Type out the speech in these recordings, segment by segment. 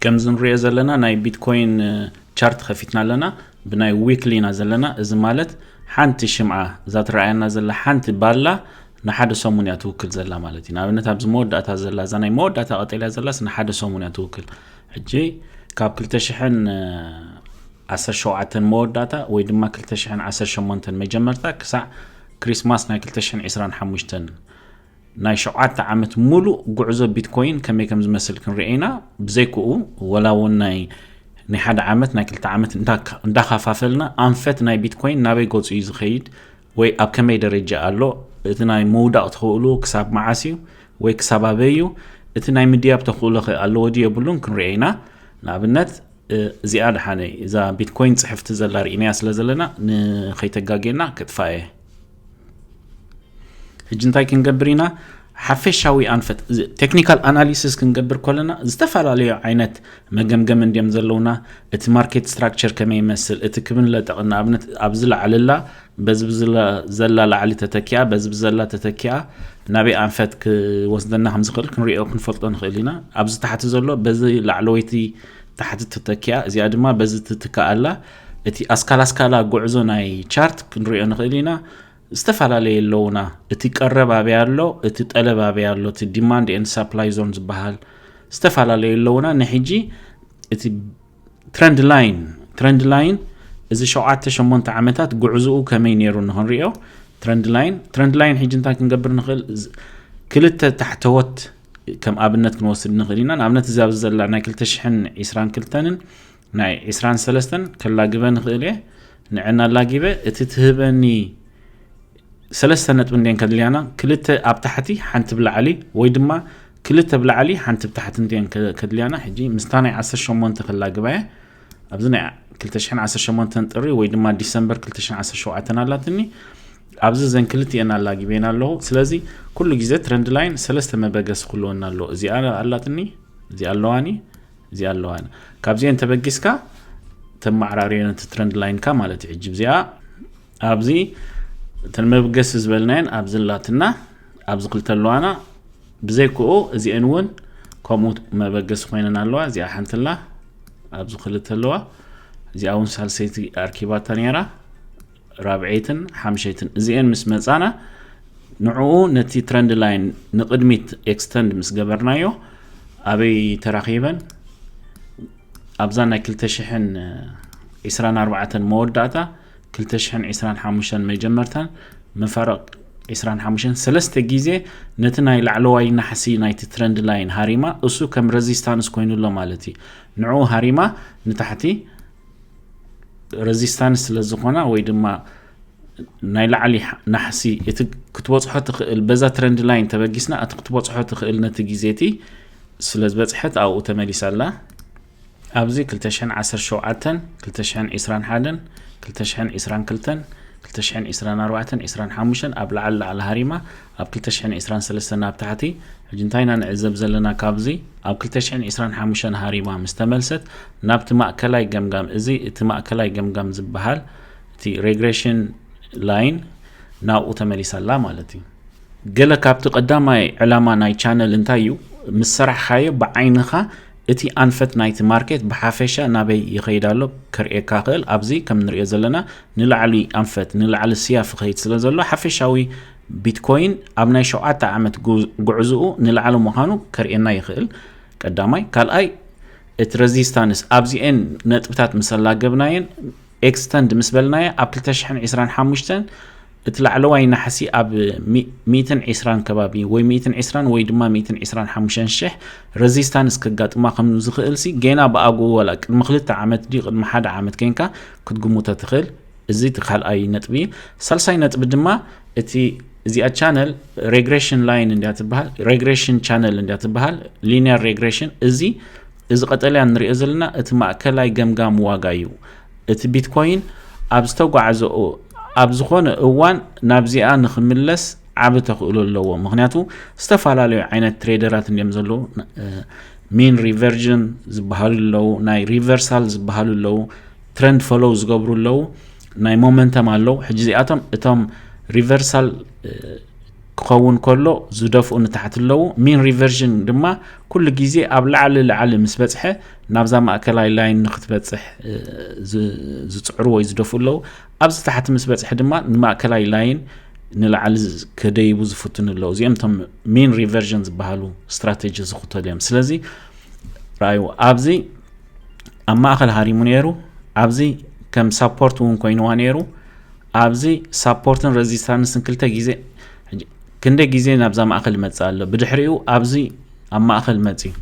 ከምዚ ንሪኦ ዘለና ናይ ቢትኮይን ቻርት ከፊትና ኣለና ብናይ ዊክሊ ኢና ዘለና እዚ ማለት ሓንቲ ሽምዓ እዛ ትረኣየና ዘላ ሓንቲ ባላ ንሓደ ሰሙን እያ ትውክል ዘላ ማለት እዩ ንኣብነት ኣብዚ መወዳእታ ዘላ እዛ ናይ መወዳእታ ቀጠልያ ዘላስ ንሓደ ሰሙን እያ ትውክል ሕጂ ካብ 217 መወዳእታ ወይ ድማ 218 መጀመርታ ክሳዕ ክሪስማስ ናይ 225 ናይ ሸውዓተ ዓመት ሙሉእ ጉዕዞ ቢትኮይን ከመይ ከም ዝመስል ክንርኤ ኢና ብዘይክኡ ወላ እውን ናይ ናይ ሓደ ዓመት ናይ ክልተ ዓመት እንዳካፋፈልና ኣንፈት ናይ ቢትኮይን ናበይ ገፁ እዩ ዝኸይድ ወይ ኣብ ከመይ ደረጃ ኣሎ እቲ ናይ ምውዳቕ ተኽእሉ ክሳብ መዓስ እዩ ወይ ክሳብ ኣበይ እዩ እቲ ናይ ምድያብ ተኽእሎ ኸ ኣለዎ ድዩ የብሉን ክንርኤ ኢና ንኣብነት እዚኣ ድሓነ እዛ ቢትኮይን ፅሕፍቲ ዘላ ርኢናያ ስለ ዘለና ንኸይተጋጌና ክጥፋ እየ ሕጂ እንታይ ክንገብር ኢና ሓፈሻዊ ኣንፈት ቴክኒካል ኣናሊሲስ ክንገብር ከለና ዝተፈላለዩ ዓይነት መገምገም እንዲም ዘለውና እቲ ማርኬት ስትራክቸር ከመይ ይመስል እቲ ክብን ለጠቕ ንኣብነት ኣብዚ ላዕልላ በዚ ዘላ ላዕሊ ተተኪኣ በዚ ብዘላ ተተኪኣ ናበይ ኣንፈት ክወስደና ከምዝኽእል ክንሪኦ ክንፈልጦ ንኽእል ኢና ኣብዚ ታሕቲ ዘሎ በዚ ላዕለወይቲ ታሕቲ ተተኪኣ እዚኣ ድማ በዚ ትትክኣላ እቲ ኣስካል ኣስካላ ጉዕዞ ናይ ቻርት ክንሪኦ ንኽእል ኢና ዝተፈላለየ ኣለውና እቲ ቀረብ ኣበይ ኣሎ እቲ ጠለብ ኣበይ ኣሎ እቲ ዲማንድ ኤንድ ሳፕላይ ዞን ዝበሃል ዝተፈላለዩ ኣለውና ንሕጂ እቲ ትረንድ ላይን ትረንድ ላይን እዚ ሸውዓተ ሸሞንተ ዓመታት ጉዕዝኡ ከመይ ነይሩ ንክንሪኦ ትረንድ ላይን ትረንድ ላይን ሕጂ እንታይ ክንገብር ንኽእል ክልተ ታሕተወት ከም ኣብነት ክንወስድ ንኽእል ኢና ንኣብነት እዚ ኣብዚ ዘላ ናይ 222ን ናይ ዕስራን ሰለስተን ከላግበ ንኽእል እየ ንዕና ላጊበ እቲ ትህበኒ ሰለስተ ነጥቢ እንዴን ከድልያና ክልተ ኣብ ታሕቲ ሓንቲ ብላዕሊ ወይ ድማ ክልተ ብላዕሊ ሓንቲ ብታሕቲ እንዴን ከድልያና ሕጂ ምስታ ናይ 18 ከላግባ እየ ኣብዚ ናይ 218 ጥሪ ወይ ድማ ዲሰምበር 217 ኣላትኒ ኣብዚ ዘን ክልቲኤን ኣላጊበን ኣለዎ ስለዚ ኩሉ ግዜ ትረንድ ላይን ሰለስተ መበገሲ ክህልወና ኣለዎ እዚኣ ኣላትኒ እዚኣ ኣለዋኒ እዚኣ ኣለዋ ካብዚኤን ተበጊስካ ተማዕራርዮ ነቲ ትረንድ ላይንካ ማለት እዩ ሕጂ እዚኣ ኣብዚ እተን መብገሲ ዝበልናየን ኣብዚ ላትና ኣብዚ ክልተ ኣለዋና ብዘይክኡ እዚኤን እውን ከምኡ መበገሲ ኮይነን ኣለዋ እዚኣ ሓንትላ ኣብዚ ክልተ ኣለዋ እዚኣ እውን ሳልሰይቲ ኣርኪባታ ነራ ራብዐይትን ሓምሸይትን እዚኤን ምስ መጻና ንዕኡ ነቲ ትረንድ ላይን ንቕድሚት ኤክስተንድ ምስ ገበርናዮ ኣበይ ተራኺበን ኣብዛ ናይ 224 መወዳእታ 225 መጀመርታን መፋረቕ 25 ሰለስተ ግዜ ነቲ ናይ ላዕለዋይ ናሕሲ ናይቲ ትረንድ ላይን ሃሪማ እሱ ከም ረዚስታንስ ኮይኑሎ ማለት እዩ ንዕኡ ሃሪማ ንታሕቲ ረዚስታንስ ስለ ዝኾና ወይ ድማ ናይ ላዕሊ ናሕሲ እቲ ክትበፅሖ ትኽእል በዛ ትረንድ ላይን ተበጊስና እቲ ክትበፅሖ ትኽእል ነቲ ግዜ እቲ ስለ ዝበፅሐት ኣብኡ ተመሊሳ ኣላ ኣብዚ 217 221 222 224 25 ኣብ ላዕሊ ላዕሊ ሃሪማ ኣብ ክልተ ሽሕን ዕስራን ሰለስተን ኣብ ታሕቲ፣ ሕጂ እንታይ ኢና ንዕዘብ ዘለና ካብዚ? ኣብ ክልተ ሽሕን ዕስራን ሓሙሽተን ሃሪማ ምስ ተመልሰት ናብቲ ማእከላይ ገምጋም እዚ እቲ ማእከላይ ገምጋም ዝበሃል እቲ Regression Line ናብኡ ተመሊሳ ኣላ ማለት እዩ። ገለ ካብቲ ቀዳማይ ዕላማ ናይ ቻነል እንታይ እዩ ምስ ሰራሕካዮ ብዓይንኻ እቲ ኣንፈት ናይቲ ማርኬት ብሓፈሻ ናበይ ይኸይድ ኣሎ ከርእየካ ክእል ኣብዚ ከም ንሪኦ ዘለና ንላዕሊ ኣንፈት ንላዕሊ ስያፍ ይኸይድ ስለ ዘሎ ሓፈሻዊ ቢትኮይን ኣብ ናይ ሸውዓተ ዓመት ጉዕዝኡ ንላዕሊ ምዃኑ ከርእየና ይኽእል ቀዳማይ ካልኣይ እቲ ረዚስታንስ ኣብዚኤን ነጥብታት ምስ ኣላገብናየን ኤክስተንድ ምስ በልናየ ኣብ 225 እቲ ላዕለዋይ ናሕሲ ኣብ 120 ከባቢ ወይ 120 ወይ ድማ 125 ሽሕ ረዚስታንስ ከጋጥማ ከም ዝኽእል ሲ ጌና ብኣግኡ ወላ ቅድሚ ክልተ ዓመት ድዩ ቅድሚ ሓደ ዓመት ኮንካ ክትግምቶ ትኽእል እዚ እቲ ካልኣይ ነጥቢ እዩ ሳልሳይ ነጥቢ ድማ እቲ እዚኣ ቻነል ሬግሬሽን ላይን እንዲያ ትበሃል ሬግሬሽን ቻነል እንዲያ ትበሃል ሊኒየር ሬግሬሽን እዚ እዚ ቀጠልያ ንሪኦ ዘለና እቲ ማእከላይ ገምጋም ዋጋ እዩ እቲ ቢትኮይን ኣብ ዝተጓዓዘኡ ኣብ ዝኾነ እዋን ናብዚኣ ንክምለስ ዓብ ተኽእሎ ኣለዎ ምክንያቱ ዝተፈላለዩ ዓይነት ትሬደራት እንዲም ዘለዉ ሚን ሪቨርጅን ዝበሃሉ ኣለዉ ናይ ሪቨርሳል ዝበሃሉ ኣለዉ ትረንድ ፈሎው ዝገብሩ ኣለዉ ናይ ሞመንተም ኣለዉ ሕጂ እዚኣቶም እቶም ሪቨርሳል ክኸውን ከሎ ዝደፍኡ ንታሕቲ ኣለዉ ሚን ሪቨርዥን ድማ ኩሉ ግዜ ኣብ ላዕሊ ላዕሊ ምስ በፅሐ ናብዛ ማእከላይ ላይን ንክትበፅሕ ዝፅዕሩ ወይ ዝደፍኡ ኣለዉ ኣብዚ ታሕቲ ምስ በፅሐ ድማ ንማእከላይ ላይን ንላዕሊ ከደይቡ ዝፍትኑ ኣለዉ እዚኦም እቶም ሚን ሪቨርዥን ዝበሃሉ ስትራቴጂ ዝኽተሉ እዮም ስለዚ ረኣዩ ኣብዚ ኣብ ማእኸል ሃሪሙ ነይሩ ኣብዚ ከም ሳፖርት እውን ኮይኑዋ ነይሩ ኣብዚ ሳፖርትን ረዚስታንስን ክልተ ግዜ ክንደይ ግዜ ናብዛ ማእኸል ይመፅእ ኣሎ ብድሕሪኡ ኣብዚ ኣብ ማእኸል መፅዩ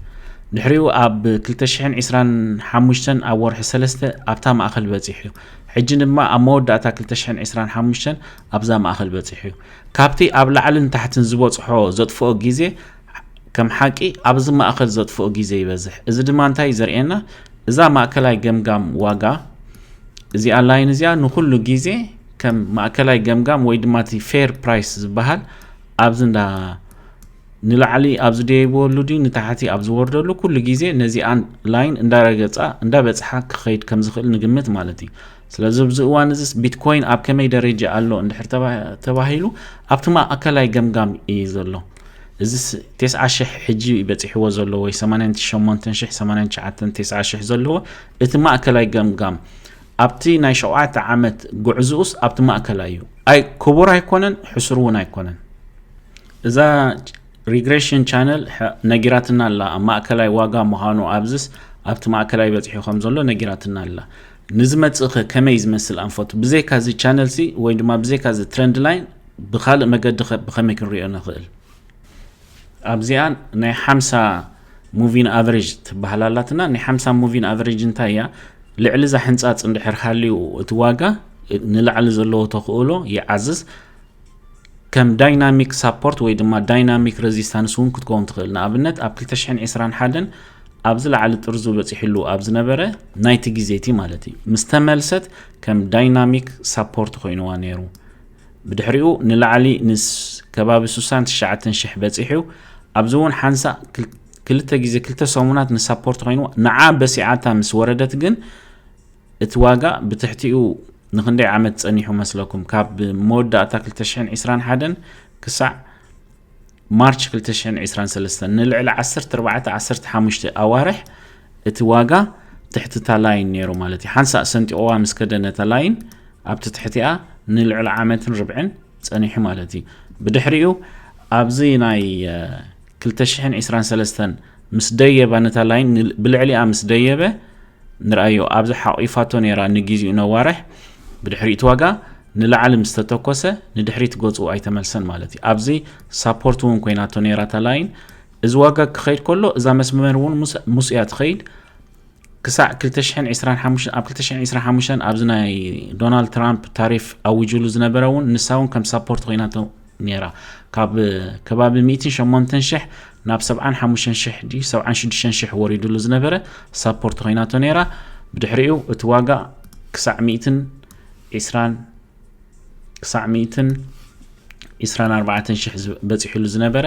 ድሕሪኡ ኣብ 225 ኣብ ወርሒ ሰለስተ ኣብታ ማእኸል በፂሑ እዩ ሕጂ ድማ ኣብ መወዳእታ 225 ኣብዛ ማእኸል በፂሑ እዩ ካብቲ ኣብ ላዕልን ታሕትን ዝበፅሖ ዘጥፍኦ ግዜ ከም ሓቂ ኣብዚ ማእከል ዘጥፍኦ ግዜ ይበዝሕ። እዚ ድማ እንታይ እዩ ዘርእየና? እዛ ማእከላይ ገምጋም ዋጋ እዚኣ ላይን እዚኣ ንኹሉ ግዜ ከም ማእከላይ ገምጋም ወይ ድማ እቲ ፌር ፕራይስ ዝበሃል ኣብዚ እንዳ ንላዕሊ ኣብ ዝደይብወሉ ድዩ ንታሕቲ ኣብ ዝወርደሉ ኩሉ ግዜ ነዚኣ ላይን እንዳረገፃ እንዳበፅሓ ክኸይድ ከም ዝኽእል ንግምት ማለት እዩ። ስለዚ ኣብዚ እዋን እዚ ቢትኮይን ኣብ ከመይ ደረጃ ኣሎ እንድሕር ተባሂሉ ኣብቲ ማእከላይ ገምጋም እዩ ዘሎ። እዚስ ቴስዓ ሽሕ ሕጂ በጺሕዎ ዘሎ ወይ ሰማንያን ሸሞንተን ሽሕ ሰማንያን ትሽዓተን ቴስዓ ሽሕ ዘለዎ እቲ ማእከላይ ገምጋም ኣብቲ ናይ ሸውዓተ ዓመት ጉዕዝኡስ ኣብቲ ማእከላይ እዩ ኣይ ክቡር ኣይኮነን ሕሱር እውን ኣይኮነን እዛ ሪግሬሽን ቻነል ነጊራትና ኣላ ኣብ ማእከላይ ዋጋ ምዃኑ ኣብዝስ ኣብቲ ማእከላይ በፂሑ ከም ዘሎ ነጊራትና ኣላ ንዝመጽእ ከ ከመይ ዝመስል ኣንፈቱ ብዘይካ እዚ ቻነል ሲ ወይ ድማ ብዘይካ እዚ ትረንድ ላይን ብካልእ መገዲ ከ ብከመይ ክንሪኦ ንክእል ኣብዚኣ ናይ ሓምሳ ሙቪን ኣቨሬጅ ትበሃል ኣላትና ናይ ሓምሳ ሙቪን ኣቨሬጅ እንታይ እያ ልዕሊ እዛ ሕንጻጽ እንድሕር ሃልዩ እቲ ዋጋ ንላዕሊ ዘለዎ ተኽእሎ ይዓዝዝ ከም ዳይናሚክ ሳፖርት ወይ ድማ ዳይናሚክ ረዚስታንስ እውን ክትከውን ትኽእል። ንኣብነት ኣብ 2021 ኣብ ዝለዓለ ጥርዙ በፂሕሉ ኣብ ዝነበረ ናይቲ ግዜ እቲ ማለት እዩ ምስ ተመልሰት ከም ዳይናሚክ ሳፖርት ኮይኑዋ ነይሩ። ብድሕሪኡ ንላዕሊ ንስ ከባቢ 69 ሽሕ በፂሑ ኣብዚ እውን ሓንሳእ ክልተ ግዜ ክልተ ሰሙናት ንሳፖርት ኮይኑ ንዓ በሲዓታ ምስ ወረደት ግን እቲ ዋጋ ብትሕቲኡ ንክንደይ ዓመት ጸኒሑ መስለኩም? ካብ መወዳእታ 2021 ክሳዕ ማርች 2023 ንልዕሊ 14-15 ኣዋርሕ እቲ ዋጋ ትሕቲ እታ ላይን ነይሩ ማለት እዩ ሓንሳእ ሰንጢቑዋ ምስ ከደ ነታ ላይን ኣብቲ ትሕቲኣ ንልዕሊ ዓመትን ርብዕን ጸኒሑ ማለት እዩ ብድሕሪኡ ኣብዚ ናይ 2023 ምስ ደየባ ነታ ላይን ብልዕሊኣ ምስ ደየበ ንርኣዮ ኣብዛ ሓቂፋቶ ነይራ ንጊዚኡ ነዋርሕ ብድሕሪኡ እቲ ዋጋ ንላዕሊ ምስ ተተኮሰ ንድሕሪት ገጹ ኣይተመልሰን ማለት እዩ ኣብዚ ሳፖርት እውን ኮይናቶ ነይራ እታ ላይን እዚ ዋጋ ክኸይድ ከሎ እዛ መስመር እውን ምስ እያ ትኸይድ ክሳዕ 225 ኣብ 225 ኣብዚ ናይ ዶናልድ ትራምፕ ታሪፍ ኣዊጅሉ ዝነበረ እውን ንሳ እውን ከም ሳፖርት ኮይናቶ ነይራ ካብ ከባቢ ሚእቲ ሸሞንተን ሽሕ ናብ ሰብዓን ሓሙሽተን ሽሕ ድዩ ሰብዓን ሽዱሽተን ሽሕ ወሪድሉ ዝነበረ ሳፖርት ኮይናቶ ነይራ ብድሕሪኡ እቲ ዋጋ ክሳዕ ሚእትን ዒስራን ክሳዕ ሚእትን ዒስራን ኣርባዕተን ሽሕ በፂሑሉ ዝነበረ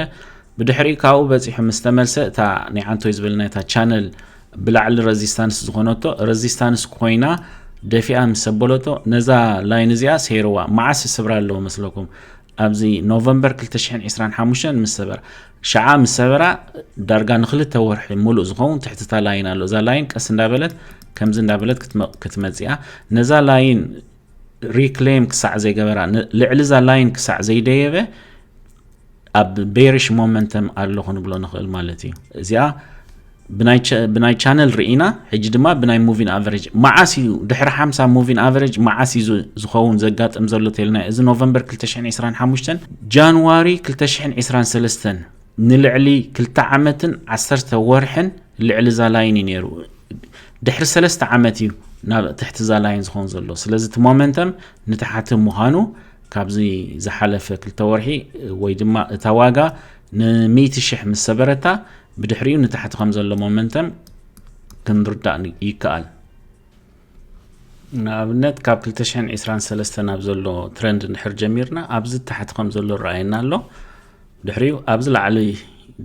ብድሕሪኡ ካብኡ በፂሑ ምስ ተመልሰ እታ ናይ ዓንቶይ ዝበልና እታ ቻነል ብላዕሊ ረዚስታንስ ዝኾነቶ ረዚስታንስ ኮይና ደፊኣ ምስ ሰበለቶ ነዛ ላይን እዚኣ ሰይርዋ መዓስ ይስብራ ኣለዎ መስለኩም ኣብዚ ኖቨምበር 225 ምስ ሰበራ ሸዓ ምስ ሰበራ ዳርጋ ንክልተ ወርሒ ሙሉእ ዝኸውን ትሕትታ ላይን ኣሎ እዛ ላይን ቀስ እንዳበለት ከምዚ እንዳበለት ክትመፅያ ነዛ ላይን ሪክሌም ክሳዕ ዘይገበራ ልዕሊ እዛ ላይን ክሳዕ ዘይደየበ ኣብ ቤሪሽ ሞመንተም ኣሎ ክንብሎ ንኽእል ማለት እዩ እዚኣ ብናይ ቻነል ርኢና ሕጂ ድማ ብናይ ሙቪን ኣቨሬጅ መዓስ እዩ ድሕሪ ሓምሳ ሙቪን ኣቨሬጅ መዓስ እዩ ዝኸውን ዘጋጥም ዘሎ ተልና እዚ ኖቨምበር 225 ጃንዋሪ 223 ንልዕሊ ክልተ ዓመትን ዓሰርተ ወርሕን ልዕሊ ዛላይን እዩ ነይሩ ድሕሪ ሰለስተ ዓመት እዩ ናብ ትሕቲ ዛላይን ዝኸውን ዘሎ ስለዚ እቲ ሞመንተም ንታሓቲ ምዃኑ ካብዚ ዝሓለፈ ክልተ ወርሒ ወይ ድማ እታ ዋጋ ን100 ሽሕ ምስ ሰበረታ ብድሕሪኡ ንታሕቲ ከም ዘሎ ሞመንተም ክንርዳእ ይከኣል ንኣብነት ካብ 223 ናብ ዘሎ ትረንድ እንድሕር ጀሚርና ኣብዚ ታሕቲ ከም ዘሎ ረኣየና ኣሎ ድሕሪኡ ኣብዚ ላዕሊ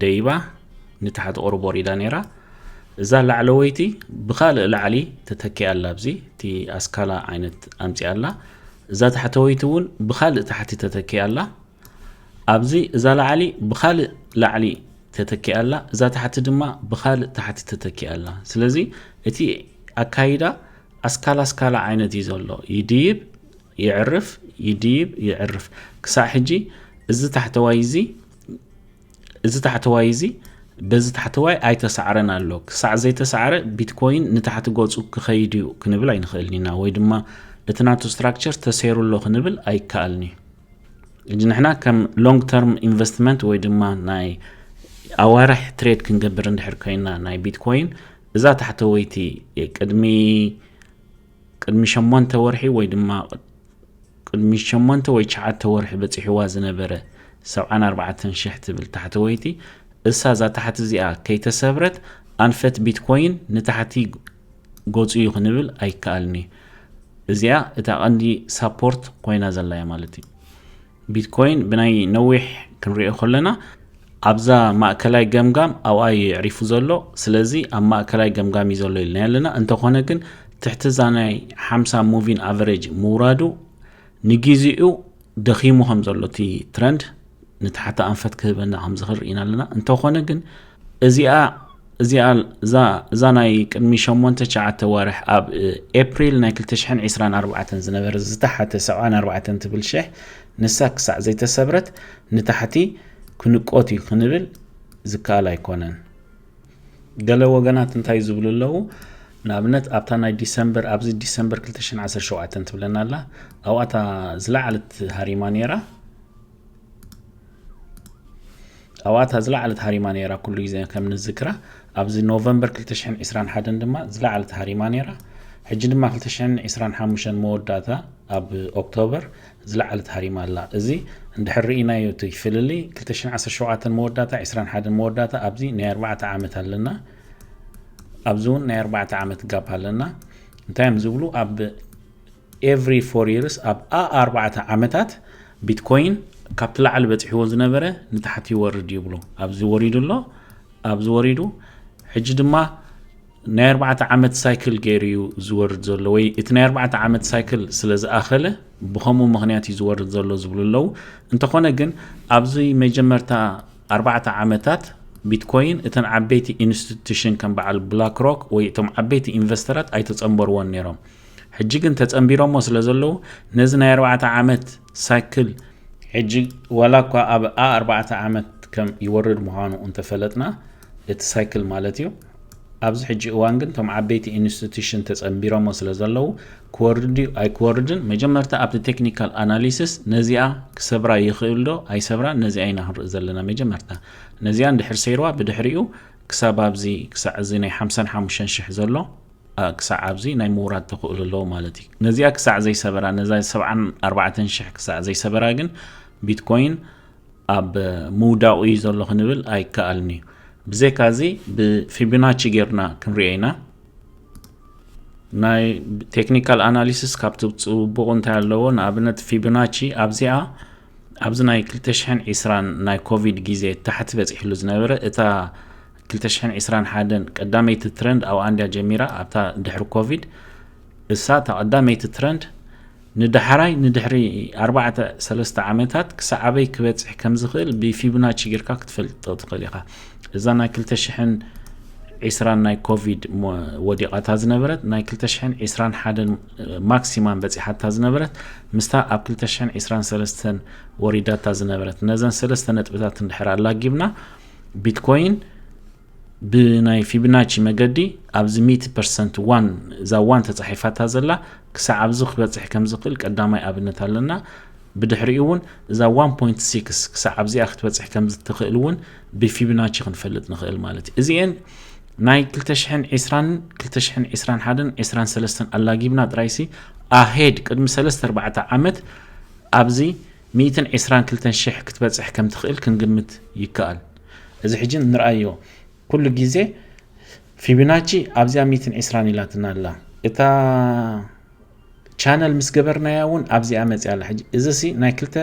ደይባ ንታሕቲ ቁርብ ወሪዳ ነይራ እዛ ላዕለወይቲ ብካልእ ላዕሊ ተተኪኣ ኣላ ኣብዚ እቲ ኣስካላ ዓይነት ኣምፅኣ ኣላ እዛ ታሕተወይቲ እውን ብካልእ ታሕቲ ተተኪኣ ኣላ ኣብዚ እዛ ላዕሊ ብካልእ ላዕሊ ተተኪኣ ኣላ እዛ ታሕቲ ድማ ብካልእ ታሕቲ ተተኪኣ ኣላ ስለዚ እቲ ኣካይዳ ኣስካላ ኣስካላ ዓይነት እዩ ዘሎ ይድይብ ይዕርፍ ይድይብ ይዕርፍ ክሳዕ ሕጂ እዚ ታሕተዋይ እዚ እዚ ታሕተዋይ እዚ በዚ ታሕተዋይ ኣይተሳዕረን ኣሎ ክሳዕ ዘይተሳዕረ ቢትኮይን ንታሕቲ ገፁ ክኸይድ እዩ ክንብል ኣይንኽእልን ኢና ወይ ድማ እቲ ናቱ ስትራክቸር ተሰይሩ ኣሎ ክንብል ኣይከኣልን እዩ እጅ ንሕና ከም ሎንግ ተርም ኢንቨስትመንት ወይ ድማ ናይ ኣዋርሕ ትሬድ ክንገብር እንድሕር ኮይና ናይ ቢትኮይን እዛ ታሕተወይቲ ቅድሚ ቅድሚ ሸሞንተ ወርሒ ወይ ድማ ቅድሚ ሸሞንተ ወይ ትሽዓተ ወርሒ በፂሕዋ ዝነበረ ሰብዓን ኣርባዕተን ሽሕ ትብል ታሕተወይቲ እሳ እዛ ታሕቲ እዚኣ ከይተሰብረት ኣንፈት ቢትኮይን ንታሕቲ ገጹ እዩ ክንብል ኣይከኣልን እዩ። እዚኣ እታ ቀንዲ ሳፖርት ኮይና ዘላ እያ ማለት እዩ። ቢትኮይን ብናይ ነዊሕ ክንሪኦ ከለና ኣብዛ ማእከላይ ገምጋም ኣብኣ እዩ የዕሪፉ ዘሎ። ስለዚ ኣብ ማእከላይ ገምጋም እዩ ዘሎ ኢልና ኣለና። እንተኾነ ግን ትሕቲ እዛ ናይ ሓምሳ ሙቪን ኣቨሬጅ ምውራዱ ንግዜኡ ደኺሙ ከም ዘሎ እቲ ትረንድ ንታሕቲ ኣንፈት ክህበና ከም ዝኽእል ርኢና ኣለና እንተኾነ ግን እዚኣ እዚኣ እዛ ናይ ቅድሚ 8 9 ዋርሕ ኣብ ኤፕሪል ናይ 224 ዝነበረ ዝተሓተ 74 ትብል ሽሕ ንሳ ክሳዕ ዘይተሰብረት ንታሕቲ ክንቆት እዩ ክንብል ዝከኣል ኣይኮነን ገለ ወገናት እንታይ ዝብሉ ኣለዉ ንኣብነት ኣብታ ናይ ዲሰምበር ኣብዚ ዲሰምበር 217 ትብለና ኣላ ኣብኣታ ዝለዓለት ሃሪማ ነይራ ኣብ'ታ ዝለዓለት ሃሪማ ነይራ ኩሉ ግዜ ከም ንዝክራ ኣብዚ ኖቨምበር 2021 ድማ ዝለዓለት ሃሪማ ነይራ ሕጂ ድማ 2025 መወዳእታ ኣብ ኦክቶበር ዝለዓለት ሃሪማ ኣላ እዚ እንድሕር ርኢናዮ እቲ ፍልሊ 2017 መወዳእታ 21 መወዳእታ ኣብዚ ናይ ኣርባዕተ ዓመት ኣለና ኣብዚ እውን ናይ ኣርባዕተ ዓመት ጋፕ ኣለና እንታይ እዮም ዝብሉ ኣብ ኤቭሪ ፎር ይርስ ኣብ ኣኣ ኣርባዕተ ዓመታት ቢትኮይን ካብቲ ላዕሊ በፂሕዎ ዝነበረ ንታሕቲ ይወርድ ይብሉ ኣብዚ ወሪዱ ኣሎ ኣብዚ ወሪዱ ሕጂ ድማ ናይ ኣርባዕተ ዓመት ሳይክል ገይሩ እዩ ዝወርድ ዘሎ ወይ እቲ ናይ ኣርባዕተ ዓመት ሳይክል ስለ ዝኣኸለ ብከምኡ ምክንያት እዩ ዝወርድ ዘሎ ዝብሉ ኣለዉ እንተኾነ ግን ኣብዚ መጀመርታ ኣርባዕተ ዓመታት ቢትኮይን እተን ዓበይቲ ኢንስቲቱሽን ከም በዓል ብላክ ሮክ ወይ እቶም ዓበይቲ ኢንቨስተራት ኣይተፀንበርዎን ነይሮም ሕጂ ግን ተጸንቢሮሞ ስለ ዘለዉ ነዚ ናይ ኣርባዕተ ዓመት ሳይክል ሕጂ ዋላ እኳ ኣብ ኣ ኣርባዕተ ዓመት ከም ይወርድ ምዃኑ እንተፈለጥና እቲ ሳይክል ማለት እዩ ኣብዚ ሕጂ እዋን ግን እቶም ዓበይቲ ኢንስቲቱሽን ተጸንቢሮሞ ስለ ዘለዉ ክወርድ እዩ ኣይክወርድን መጀመርታ ኣብቲ ቴክኒካል ኣናሊሲስ ነዚኣ ክሰብራ ይኽእል ዶ ኣይሰብራን ነዚኣ ኢና ክንርኢ ዘለና መጀመርታ ነዚኣ እንድሕር ሰይርዋ ብድሕሪኡ ክሳብ ኣብዚ ክሳዕ እዚ ናይ ሓምሳን ሓሙሽተን ሽሕ ዘሎ ክሳዕ ኣብዚ ናይ ምውራድ ተኽእሎ ኣለዎ ማለት እዩ። ነዚኣ ክሳዕ ዘይሰበራ ነዛ ሰብዓን ኣርባዕተን ሽሕ ክሳዕ ዘይሰበራ ግን ቢትኮይን ኣብ ምውዳቑ እዩ ዘሎ ክንብል ኣይከኣልን እዩ። ብዘይካ እዚ ብፊቢናቺ ጌርና ክንሪኦ ኢና። ናይ ቴክኒካል ኣናሊሲስ ካብ ትፅቡቑ እንታይ ኣለዎ? ንኣብነት ፊቢናቺ ኣብዚኣ ኣብዚ ናይ 220 ናይ ኮቪድ ግዜ ታሕቲ በፂሕሉ ዝነበረ እታ ክልተ ሽሕን ዒስራን ሓደን ቀዳመይቲ ትረንድ ኣብኣ እንድያ ጀሚራ ኣብታ ድሕሪ ኮቪድ እሳ እታ ቀዳመይቲ ትረንድ ንዳሕራይ ንድሕሪ ኣርባዕተ ሰለስተ ዓመታት ክሳዕ ኣበይ ክበፅሕ ከም ዝኽእል ብፊቡናቺ ጌርካ ክትፈልጦ ትኽእል ኢኻ እዛ ናይ ክልተ ሽሕን ዒስራን ናይ ኮቪድ ወዲቓታ ዝነበረት ናይ ክልተ ሽሕን ዒስራን ሓደን ማክሲማም በፂሓታ ዝነበረት ምስታ ኣብ ክልተ ሽሕን ዒስራን ሰለስተን ወሪዳታ ዝነበረት ነዘን ሰለስተ ነጥብታት እንድሕር ኣላጊብና ቢትኮይን ብናይ ፊብናቺ መገዲ ኣብዚ ሚእቲ ፐርሰንት ዋን እዛ ዋን ተፃሒፋታ ዘላ ክሳዕ ኣብዚ ክበፅሕ ከም ዝኽእል ቀዳማይ ኣብነት ኣለና ብድሕሪኡ እውን እዛ 1.6 ክሳዕ ኣብዚኣ ክትበፅሕ ከም ዝትኽእል እውን ብፊብናቺ ክንፈልጥ ንኽእል ማለት እዩ እዚአን ናይ 220 221 23 ኣላጊብና ጥራይሲ ኣሄድ ቅድሚ 34 ዓመት ኣብዚ ሚእትን ዕስራን ክልተን ሽሕ ክትበጽሕ ከም ትኽእል ክንግምት ይከኣል። እዚ ሕጂ ንርኣዮ። ኩሉ ግዜ ፊቡናቺ ኣብዚኣ ሚእትን ዕስራን ኢላትና ኣላ። እታ ቻነል ምስ ገበርናያ እውን ኣብዚኣ መጺኣ ኣላ። ሕጂ እዚሲ ናይ ክልተ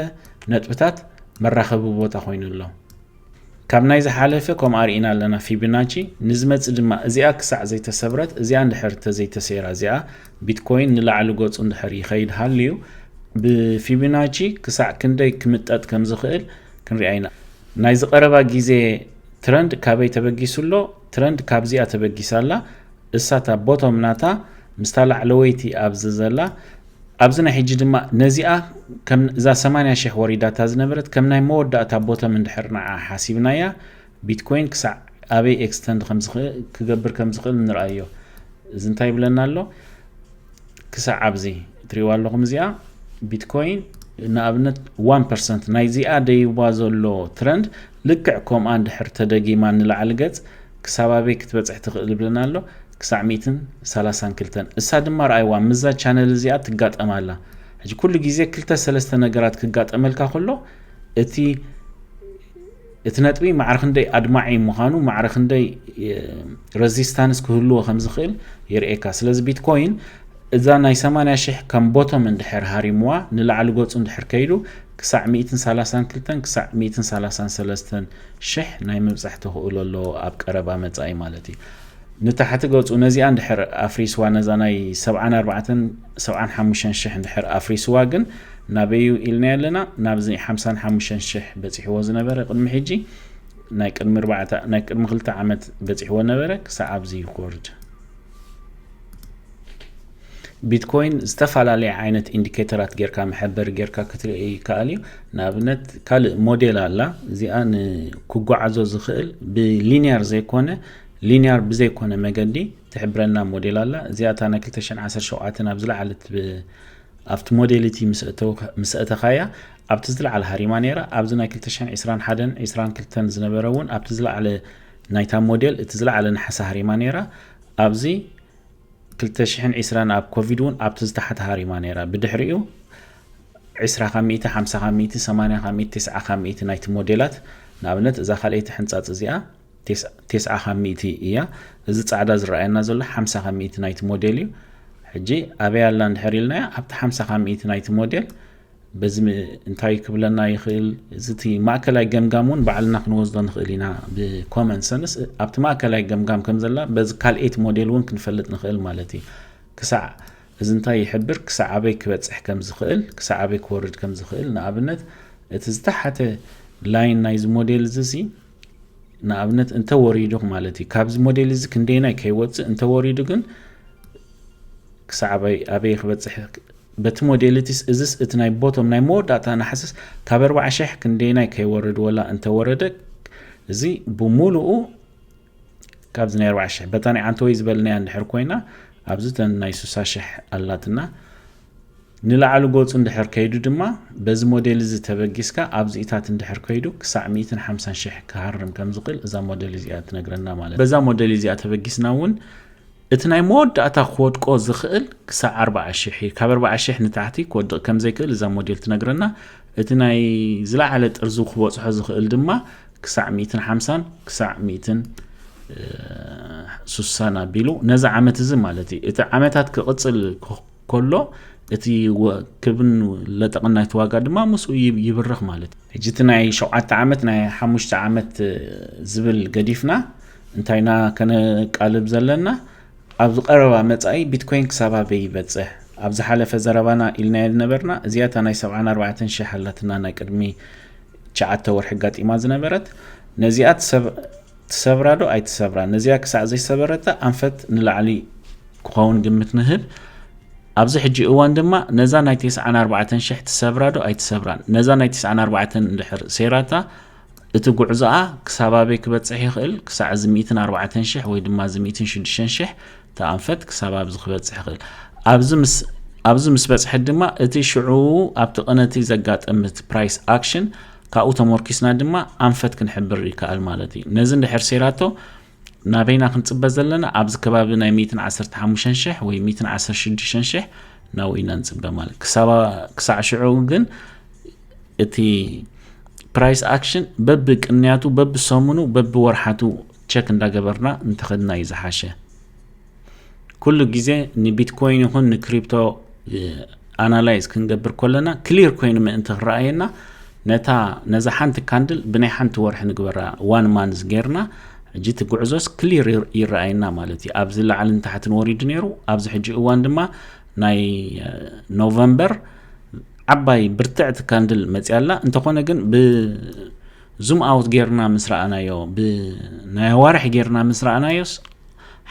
ነጥብታት መራኸቢ ቦታ ኮይኑ ኣሎ። ካብ ናይ ዝሓለፈ ከምኡ ኣርኢና ኣለና ፊብናቺ ንዝመጽ ድማ እዚኣ ክሳዕ ዘይተሰብረት እዚኣ እንድሕር ተዘይተሰይራ እዚኣ ቢትኮይን ንላዕሊ ገጹ እንድሕር ይኸይድ ሃልዩ ብፊብናቺ ክሳዕ ክንደይ ክምጠጥ ከም ዝኽእል ክንሪኣ ኢና ናይ ዝቀረባ ግዜ ትረንድ ካበይ ተበጊሱ ኣሎ ትረንድ ካብዚኣ ተበጊሳ ኣላ እሳታ ቦቶም ናታ ምስታ ላዕለወይቲ ኣብዚ ዘላ ኣብዚ ናይ ሕጂ ድማ ነዚኣ ከም እዛ ሰማንያ ሽሕ ወሪዳታ ዝነበረት ከም ናይ መወዳእታ ቦተም እንድሕር ንዓ ሓሲብናያ ቢትኮይን ክሳዕ ኣበይ ኤክስተንድ ክገብር ከም ዝኽእል ንርኣዮ እዚ እንታይ ይብለና ኣሎ ክሳዕ ኣብዚ ትሪእዋ ኣለኹም እዚኣ ቢትኮይን ንኣብነት 1 ፐርሰንት ናይዚኣ ደይባ ዘሎ ትረንድ ልክዕ ከምኣ እንድሕር ተደጊማ ንላዕሊ ገጽ ክሳብ ኣበይ ክትበጽሕ ትኽእል ይብለና ኣሎ ክሳዕ ሚእትን ሳላሳን ክልተን እሳ ድማ ርኣይዋ ምስዛ ቻነል እዚኣ ትጋጠም ኣላ ሕጂ ኩሉ ግዜ ክልተ ሰለስተ ነገራት ክጋጠመልካ ከሎ እቲ እቲ ነጥቢ ማዕረ ክንደይ ኣድማዒ ምዃኑ ማዕረ ክንደይ ረዚስታንስ ክህልዎ ከም ዝኽእል የርእየካ ስለዚ ቢትኮይን እዛ ናይ 80 ሽሕ ከም ቦቶም እንድሕር ሃሪምዋ ንላዕሊ ገጹ እንድሕር ከይዱ ክሳዕ 132 ክሳዕ 133 ሽሕ ናይ ምብጻሕ ተኽእሎ ኣሎ ኣብ ቀረባ መጻኢ ማለት እዩ። ንታሕቲ ገጹ ነዚኣ እንድሕር ኣፍሪስዋ ነዛ ናይ ሰብዓን ኣርባዕተን ሰብዓን ሓሙሽተን ሽሕ እንድሕር ኣፍሪስዋ ግን ናበዩ ኢልናዮ ኣለና ናብዚ ሓምሳን ሓሙሽተን ሽሕ በጺሕዎ ዝነበረ ቅድሚ ሕጂ ናይ ቅድሚ ኣርባዕተ ናይ ቅድሚ ክልተ ዓመት በጺሕዎ ነበረ ክሳዕ ኣብዚ ይኮርድ ቢትኮይን ዝተፈላለየ ዓይነት ኢንዲኬተራት ጌርካ መሐበሪ ጌርካ ክትርኢ ይከኣል እዩ ንኣብነት ካልእ ሞዴል ኣላ እዚኣ ንክጓዓዞ ዝኽእል ብሊኒያር ዘይኮነ ሊኒያር ብዘይኮነ መገዲ ትሕብረና ሞዴል ኣላ እዚኣ እታ ናይ 217 ኣብ ዝለዓለት ኣብቲ ሞዴሊቲ ምስ እተኻያ ኣብቲ ዝለዓለ ሃሪማ ነይራ ኣብዚ ናይ 221 22 ዝነበረ እውን ኣብቲ ዝለዓለ ናይታ ሞዴል እቲ ዝለዓለ ንሓሳ ሃሪማ ነይራ ኣብዚ ክልተ ሽሕን ዒስራን ኣብ ኮቪድ እውን ኣብቲ ዝተሓተ ሃሪማ ነይራ። ብድሕሪኡ ዒስራ ካብ ሚእቲ፣ ሓምሳ ካብ ሚእቲ፣ ሰማንያ ካብ ሚእቲ፣ ቴስዓ ካብ ሚእቲ ናይቲ ሞዴላት ንኣብነት እዛ ካልኣይቲ ሕንጻጽ እዚኣ ቴስዓ ካብ ሚእቲ እያ። እዚ ጻዕዳ ዝረኣየና ዘሎ ሓምሳ ካብ ሚእቲ ናይቲ ሞዴል እዩ። ሕጂ ኣበይ ኣላ እንድሕር ኢልናያ ኣብቲ ሓምሳ ካብ ሚእቲ ናይቲ ሞዴል በዚ እንታይ ክብለና ይኽእል እዚ እቲ ማእከላይ ገምጋም እውን ባዕልና ክንወስዶ ንኽእል ኢና ብኮመን ሰንስ ኣብቲ ማእከላይ ገምጋም ከም ዘላ በዚ ካልኤት ሞዴል እውን ክንፈልጥ ንኽእል ማለት እዩ ክሳዕ እዚ እንታይ ይሕብር ክሳዕ ኣበይ ክበፅሕ ከም ዝኽእል ክሳዕ ኣበይ ክወርድ ከም ዝኽእል ንኣብነት እቲ ዝተሓተ ላይን ናይዚ ሞዴል እዚ ሲ ንኣብነት እንተወሪዱ ማለት እዩ ካብዚ ሞዴል እዚ ክንደይናይ ከይወፅእ እንተወሪዱ ግን ክሳዕ ኣበይ ክበፅሕ በቲ ሞዴሊቲስ እዝስ እቲ ናይ ቦቶም ናይ መወዳእታ ናሕስስ ካብ ኣርብዓ ሽሕ ክንደየናይ ከይወርድ ወላ እንተወረደ እዚ ብሙሉኡ ካብዚ ናይ ኣርብዓ ሽሕ በታ ናይ ዓንተወይ ዝበልናያ እንድሕር ኮይና ኣብዚ ተን ናይ ሱሳ ሽሕ ኣላትና ንላዕሊ ጎፁ እንድሕር ከይዱ ድማ በዚ ሞዴል እዚ ተበጊስካ ኣብዚኢታት እንድሕር ከይዱ ክሳዕ 150 ሽሕ ክሃርም ከም ዝኽእል እዛ ሞዴል እዚኣ ትነግረና ማለት በዛ ሞዴል እዚኣ ተበጊስና እውን እቲ ናይ መወዳእታ ክወድቆ ዝኽእል ክሳዕ ኣርብዓ ሽሕ እዩ። ካብ ኣርብዓ ሽሕ ንታሕቲ ክወድቕ ከም ዘይክእል እዛ ሞዴል ትነግረና። እቲ ናይ ዝለዓለ ጥርዙ ክበጽሖ ዝኽእል ድማ ክሳዕ ሚእትን ሓምሳን ክሳዕ ሚእትን ሱሳን ኣቢሉ ነዚ ዓመት እዚ ማለት እዩ። እቲ ዓመታት ክቕጽል ኮሎ እቲ ክብን ለጠቕን ናይቲ ዋጋ ድማ ምስኡ ይብርኽ ማለት እዩ ሕጂ እቲ ናይ ሸውዓተ ዓመት ናይ ሓሙሽተ ዓመት ዝብል ገዲፍና እንታይና ከነቃልብ ዘለና ኣብዚ ቀረባ መጻኢ ቢትኮይን ክሳብ ኣበይ ይበጽሕ ኣብ ዝሓለፈ ዘረባና ኢልናዮ ዝነበርና እዚኣ እታ ናይ ሰብዓን ኣርባዕተን ሽሕ ኣላትና ናይ ቅድሚ ትሽዓተ ወርሒ ኣጋጢማ ዝነበረት ነዚኣ ሰብ ትሰብራ ዶ ኣይትሰብራን ነዚኣ ክሳዕ ዘይሰበረታ ኣንፈት ንላዕሊ ክኸውን ግምት ንህብ ኣብዚ ሕጂ እዋን ድማ ነዛ ናይ ቴስዓን ኣርባዕተን ሽሕ ትሰብራ ዶ ኣይትሰብራን ነዛ ናይ ቴስዓን ኣርባዕተን እንድሕር ሴራታ እቲ ጉዕዞኣ ክሳብ ኣበይ ክበፅሕ ይኽእል ክሳዕ እዚ ሚእትን ኣርባዕተን ሽሕ ወይ ድማ እዚ ሚእትን ሽዱሽተን ሽሕ እቲ ኣንፈት ክሳብ ኣብዚ ክበፅሕ ይኽእል ኣብዚ ምስ ኣብዚ ምስ በፅሐት ድማ እቲ ሽዑ ኣብቲ ቅነቲ ዘጋጠምት ፕራይስ ኣክሽን ካብኡ ተሞርኪስና ድማ ኣንፈት ክንሕብር ይከኣል ማለት እዩ። ነዚ እንድሕር ሰይራቶ ናበይና ክንጽበ ዘለና ኣብዚ ከባቢ ናይ 115 ሽሕ ወይ 116 ሽሕ ናብኡ ኢና ንጽበ ማለት ክሳዕ ሽዑ ግን እቲ ፕራይስ ኣክሽን በቢ ቅንያቱ በቢ ሰሙኑ በቢ ወርሓቱ ቸክ እንዳገበርና እንተኸድና እዩ ዝሓሸ። ኩሉ ግዜ ንቢትኮይን ይኹን ንክሪፕቶ ኣናላይዝ ክንገብር ኮለና ክሊር ኮይኑ ምእንቲ ክረኣየና ነታ ነዛ ሓንቲ ካንድል ብናይ ሓንቲ ወርሒ ንግበራ ዋን ማንዝ ጌርና ሕጂ እቲ ጉዕዞስ ክሊር ይረኣየና ማለት እዩ ኣብዚ ላዕልን ታሕትን ወሪዱ ነይሩ ኣብዚ ሕጂ እዋን ድማ ናይ ኖቨምበር ዓባይ ብርትዕቲ ካንድል መፅያላ እንተኾነ ግን ብዙም ኣውት ጌርና ምስ ረኣናዮ ብናይ ኣዋርሒ ጌርና ምስ ረኣናዮስ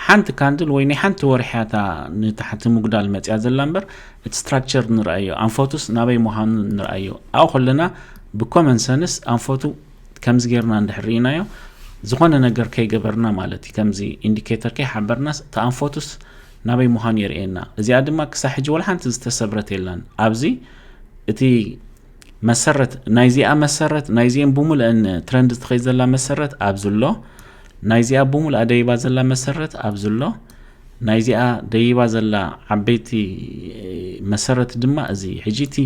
ሓንቲ ካንድል ወይ ናይ ሓንቲ ወርሒ እያ እታ ንታሕቲ ምጉዳል መፅያ ዘላ እምበር እቲ ስትራክቸር ንርኣዮ ኣንፈቱስ ናበይ ምዃኑ ንርኣዮ ኣብኡ ከለና ብኮመን ሰንስ ኣንፈቱ ከምዚ ጌርና እንድሕር ርኢናዮ ዝኾነ ነገር ከይገበርና ማለት እዩ ከምዚ ኢንዲኬተር ከይሓበርናስ እቲ ኣንፈቱስ ናበይ ምዃኑ የርእየና እዚኣ ድማ ክሳብ ሕጂ ወላ ሓንቲ ዝተሰብረት የላን ኣብዚ እቲ መሰረት ናይዚኣ መሰረት ናይዚኤን ብሙሉአን ትረንድ ትኸይ ዘላ መሰረት ኣብዚ ኣሎ ናይዚኣ ብሙሉኣ ደይባ ዘላ መሰረት ኣብዚ ኣሎ ናይዚኣ ደይባ ዘላ ዓበይቲ መሰረት ድማ እዚ ሕጂ እቲ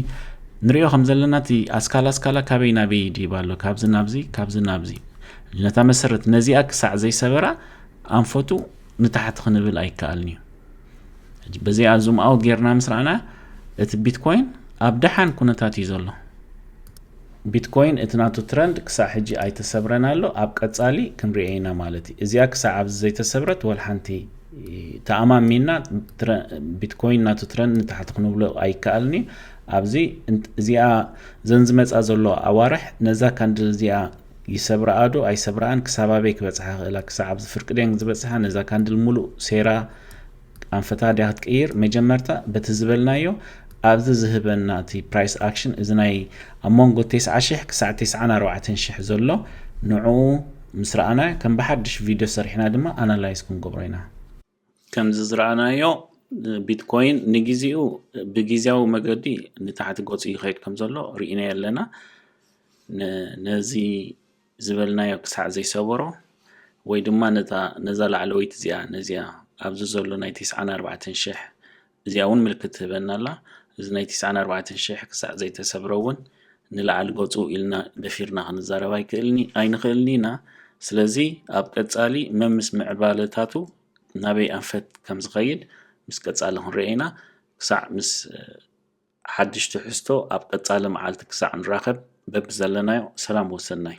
ንሪኦ ከም ዘለና እቲ ኣስካላ ኣስካላ ካበይ ናበይ ይድይብ ኣሎ ካብዚ ናብዚ ካብዚ ናብዚ ነታ መሰረት ነዚኣ ክሳዕ ዘይሰበራ ኣንፈቱ ንታሕቲ ክንብል ኣይከኣልን እዩ ሕጂ በዚኣ ዙም ኣው ጌርና ምስ ረኣና እቲ ቢትኮይን ኣብ ደሓን ኩነታት እዩ ዘሎ ቢትኮይን እቲ ናቱ ትረንድ ክሳዕ ሕጂ ኣይተሰብረን ኣሎ ኣብ ቀጻሊ ክንሪኦ ኢና ማለት እዩ እዚኣ ክሳዕ ኣብዚ ዘይተሰብረት ወል ሓንቲ ተኣማሚና ቢትኮይን ናቱ ትረንድ ንታሕቲ ክንብሎ ኣይከኣልን እዩ ኣብዚ እዚኣ ዘን ዝመፃ ዘሎ ኣዋርሕ ነዛ ካንድል እዚኣ ይሰብራኣ ዶ ኣይሰብራኣን ክሳብ ኣበይ ክበጽሓ ይኽእላ ክሳዕ ኣብዚ ፍርቂ ድየን ዝበጽሓ ነዛ ካንድል ሙሉእ ሴራ ኣንፈታ ድያ ክትቅይር መጀመርታ በቲ ዝበልናዮ ኣብዚ ዝህበና እቲ ፕራይስ ኣክሽን እዚ ናይ ኣብ መንጎ ቴስዓ ሽሕ ክሳዕ ቴስዓን ኣርባዕተን ሽሕ ዘሎ ንዕኡ ምስ ረኣና ከም ብሓድሽ ቪድዮ ሰሪሕና ድማ ኣናላይዝ ክንገብሮ ኢና ከምዚ ዝረኣናዮ ቢትኮይን ንግዜኡ ብግዜያዊ መገዲ ንታሕቲ ገጹ ይኸይድ ከም ዘሎ ርኢናዮ ኣለና ነዚ ዝበልናዮ ክሳዕ ዘይሰበሮ ወይ ድማ ነዛ ላዕለወይቲ እዚኣ ነዚኣ ኣብዚ ዘሎ ናይ 94 ሽሕ እዚኣ እውን ምልክት ትህበና ኣላ እዚ ናይ ትስዓን ኣርባዕተን ሽሕ ክሳዕ ዘይተሰብረ እውን ንላዕሊ ገፁ ኢልና ደፊርና ክንዛረብ ኣይክእልኒ ኣይንኽእልኒ ኢና ስለዚ ኣብ ቀፃሊ መምስ ምዕባለታቱ ናበይ ኣንፈት ከም ዝኸይድ ምስ ቀፃሊ ክንሪኦ ኢና ክሳዕ ምስ ሓድሽ ትሕዝቶ ኣብ ቀፃሊ መዓልቲ ክሳዕ ንራኸብ በቢ ዘለናዮ ሰላም ወሰናይ